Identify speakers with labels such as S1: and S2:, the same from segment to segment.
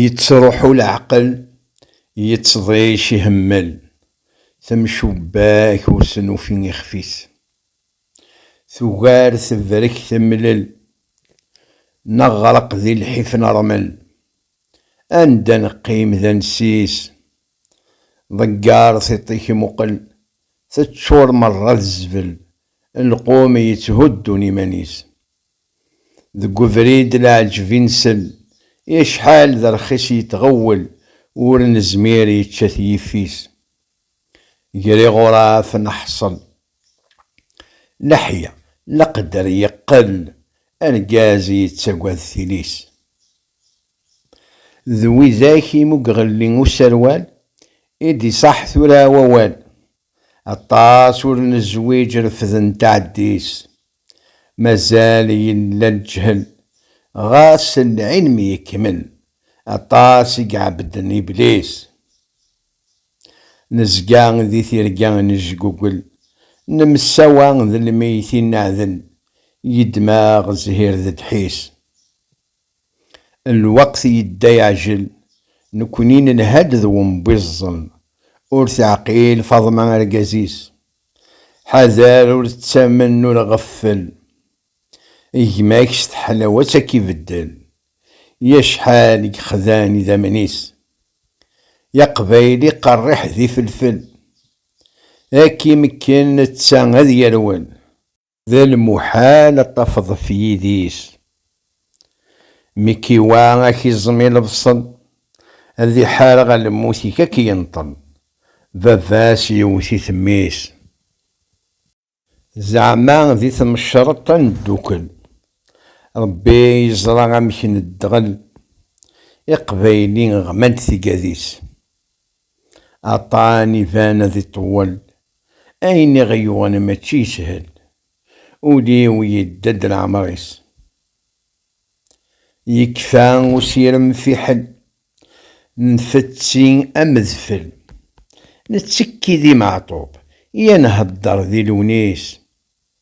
S1: Yettruḥu leɛqel, yettḍic ihemmel, temcubbak ur s-nufi ixef-is. Tugar tebrek temlel, neɣreq di lḥif nermel. Anda neqqim d ansi-s, ḍegger tiṭ-ik muqel, teččur merra d zzbel, lqum yetthuddun iman-is. Deg ubrid leɛǧeb i nsel. I acḥal d rxis yettɣewwel ur nezmir yečča-t yifis. Ger iɣuraf neḥṣel. Leḥya, leqder yeqqel argaz yettagad tili-s. D widak i mugɣelli userwal i d-iṣaḥ tura wawal. Aṭas ur nezwiǧ refden taɛeddi-s. Mazal yella leǧhel, ɣas lɛilm yekmel, aṭas i iɛebbden iblis. Nezga di tirga nejgugel, nemsawa d lmeyytin neɛdel, yeddem-aɣ zzhir d ddḥis. Lweqt yedda yeɛjel, nekni nelha-d d wembiẓẓel, ur teɛqil Faḍma argaz-is. Ḥader ur ttamen ur ɣeffel, gma-k s teḥlawat ad k-ibeddel, i acḥal i yexdan idammen-is, i aqbayli qerriḥ d ifelfel, ad k-imekken netta ad yerwel. D lmuḥal ad tafeḍ ɣef yidis mi k-iwa ad k-iẓem i lebṣel, ad iḥareɣ a lmut-ik ad k-yenṭel, baba-s yewwet-it mmi-s. Zeɛma di tmecreṭ ad neddukel? Rebbi yeẓra amek nedɣel, iqbayli ɣman-d tigadis. Aṭṭan iban ad iṭewwel. Ayen i ɣ-yuɣen mačči yeshel. Ul-iw yedda-d leɛmer-is. Yekfa usirem fiḥel. Nfetti am dfel. Nettekki di Meɛtub. I a nhedder di Lewnis.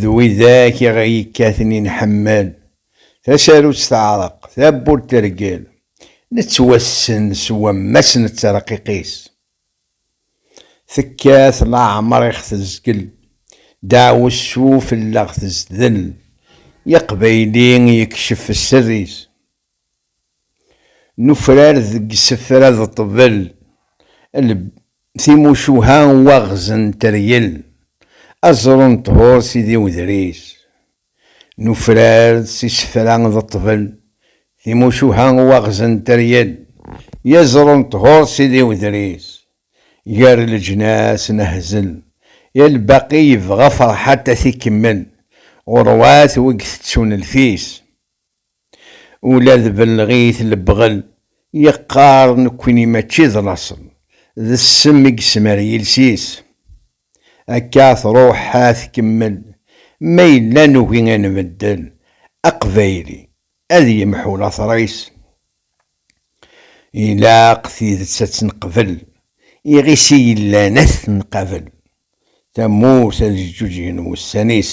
S1: d widak i ɣ-yekkaten i nḥemmel, tasarut teɛreq, tawwurt tergel, nettwassen s wammas n tterqiq-is. Tekkat leɛmer i ɣ-tezgel, deɛwessu fell-aɣ tezdel, i aqbayli yekcef sser-is. Nufrar deg isefra d ṭṭbel, lb, timucuha n waɣez n teryel, aẓru n ṭhur si di wedris. Nufrar s isefra d ṭṭbel, timucuha n waɣez n teryel, yaẓru n ṭhur si di wedris. Gar leǧnas nehzel, i lbaqi yebɣa Ferḥat ad t-ikemmel, ɣurwat wigi tettun lfis. Ula d belleɣit lebɣel, yeqqar nekkni mačči d laṣel, d ssem i yesmar yiles-is. Akka truḥ ad tkemmel, ma yella nugi ad nbeddel, aqbayli ad yemḥu later-is. Ilaq tidet ad tt-neqbel, iɣis i yellan ad t-nqabel, tamurt ad ǧǧuǧgen wussan-is.